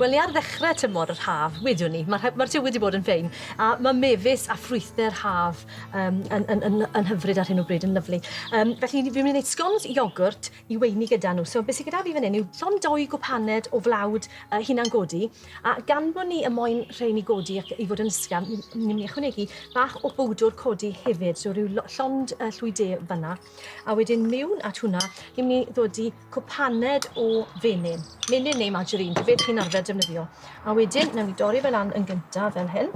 Wel, ni ar ddechrau tymor yr haf, wyddwn ni. Mae'r ma tywydd wedi bod yn ffein, a mae mefus a ffrwythau'r haf um, yn, yn, yn, yn hyfryd ar hyn o bryd, yn lyflu. Um, felly, fi'n mynd i wneud scones iogwrt i weini gyda nhw. So, beth sy'n gyda fi fan hyn yw llon doi gwpaned o flawd uh, hunan godi, a gan bod ni y moyn rhain i godi ac i fod yn ysgafn, ni'n mynd i ychwanegu bach o bwdwr codi hefyd, so rhyw llond uh, llwy de fanna. A wedyn mewn at hwnna, ni'n mynd i ddod i cwpaned o fenyn. Menyn neu margarine, dwi beth chi'n arfer defnyddio. A wedyn, newn ni dorri fe lan yn gyntaf fel hyn.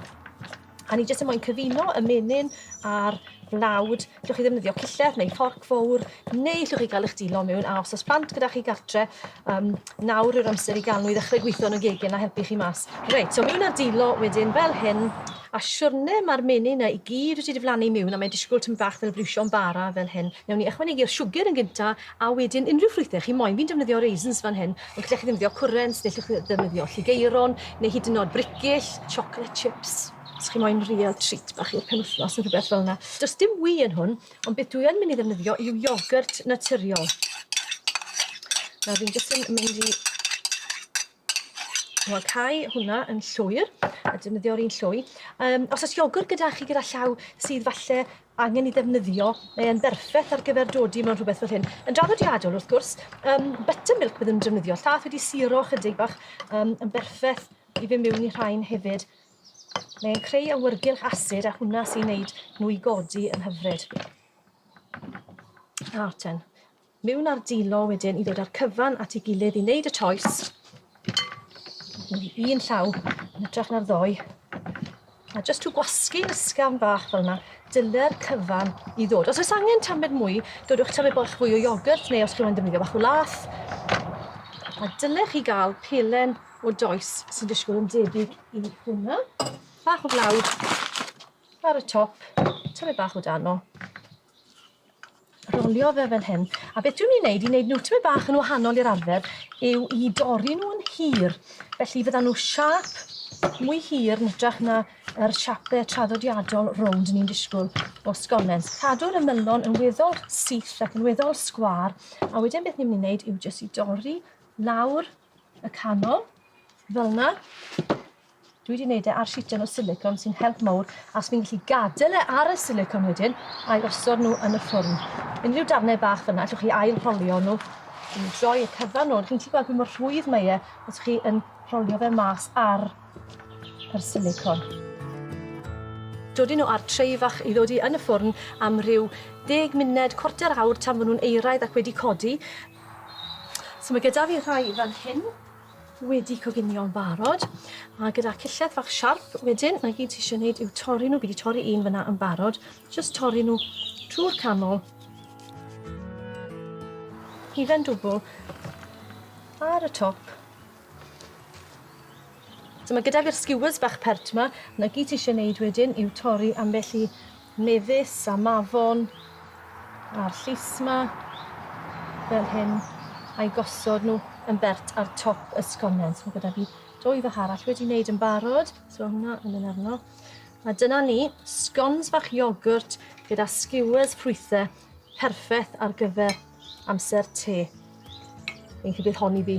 A ni jyst yn mwyn cyfuno y menyn a'r blawd. Llwch chi ddefnyddio cillell neu fforc fawr, neu llwch chi gael eich dilo mewn. A os oes plant gyda chi gartre, Yym nawr yw'r amser i Ganw i ddechrau gwitho yn y gegin a helpu chi mas. Reit, so miwn a dilo wedyn fel hyn, a siwrne ma'r menyn 'na i gyd wedi diflannu miwn a mae'n disgwl tym bach fel briwsio'n bara fel hyn. Newn ni ychwanegu'r siwgr yn gynta a wedyn unrhyw ffrwythe chi moyn. Fi'n defnyddio raisins fan hyn, ond gallech chi ddefnyddio cwrent, neu llwch chi ddefnyddio lligeiron, neu hyd yn o'd bricyll, chocolate chips, os chi moyn real treat bach i'r penwthnos ne' rwbeth fel 'na. Do's dim wy yn hwn, Ond beth dwi yn mynd i ddefnyddio yw iogwrt naturiol. Nawr fi'n jyst yn mynd i Wel, cael hwnna yn llwyr, a defnyddio'r un llwy. Um, os oes iogwr gyda chi gyda llaw sydd falle angen i ddefnyddio, mae e'n berffaith ar gyfer dodi mewn rhywbeth fel hyn. Yn draddodiadol, wrth gwrs, um, buttermilk byddwn yn defnyddio. Llath wedi siro chydig bach um, yn berffaith i fy mewn i rhain hefyd. Mae'n creu awyrgylch asid a hwnna sy'n neud nhw i godi yn hyfryd. A ten. Mewn ar dilo wedyn i ddod â'r cyfan at ei gilydd i wneud y toes. Mae'n un llaw yn ytrach na'r ddoe. A jyst to gwasgu ysgafn bach fel yna, dyle'r cyfan i ddod. Os oes angen tamed mwy, dodwch tamed bach fwy o iogwrt neu os chi'n mynd ddefnyddio bach o lath. A dylech chi gael pelen o does sy'n disgwyl yn debyg i hwnna. Bach o flawd ar y top, tymed bach o dano. Rolio fe fel hyn. A beth dwi'n mynd i wneud i wneud nhw tymed bach yn wahanol i'r arfer yw i dorri nhw yn hir. Felly fydda nhw siap mwy hir yn ytrach na yr siape traddodiadol rownd ni'n disgwyl o sgonen. Cadw'r ymylon yn weddol syth ac yn weddol sgwar, a wedyn beth ni'n mynd i wneud yw jyst i dorri lawr y canol, fel yna. Dwi wedi gwneud e ar sitan o silicon sy'n help mawr, a os fi'n gallu gadael e ar y silicon wedyn, a'i osod nhw yn y ffwrn. Unrhyw darnau bach fyna, allwch chi ail rholio nhw i droi y cyfan nôl. Chi'n gallu gweld pa mor rhwydd mae e os chi yn rholio fe mas ar yr silicon. Dodi nhw ar trei fach i ddodi yn y ffwrn am ryw ddeg munud, cwarter awr tan fy nhw'n eiraidd ac wedi codi. So mae gyda fi rhai fan hyn wedi coginio'n barod a gyda cillell fach siarp wedyn mae gyd ti eisiau gwneud yw torri nhw, fi wedi torri un fyna yn barod, jyst torri nhw trwy'r canol hufen dwbl ar y top. So mae gyda fi'r skewers bach pert yma, na gyd ti eisiau gwneud wedyn yw torri ambell i Mefus a Mafon a'r llys 'ma fel hyn a'i gosod nhw yn bert ar top y sgonen. So gyda fi dwy fach arall wedi wneud yn barod, so hwnna yn mynd arno. A dyna ni, sgons bach iogwrt gyda skewers ffrwythe, perffaith ar gyfer amser te. Fi'n credu bydd hon i fi.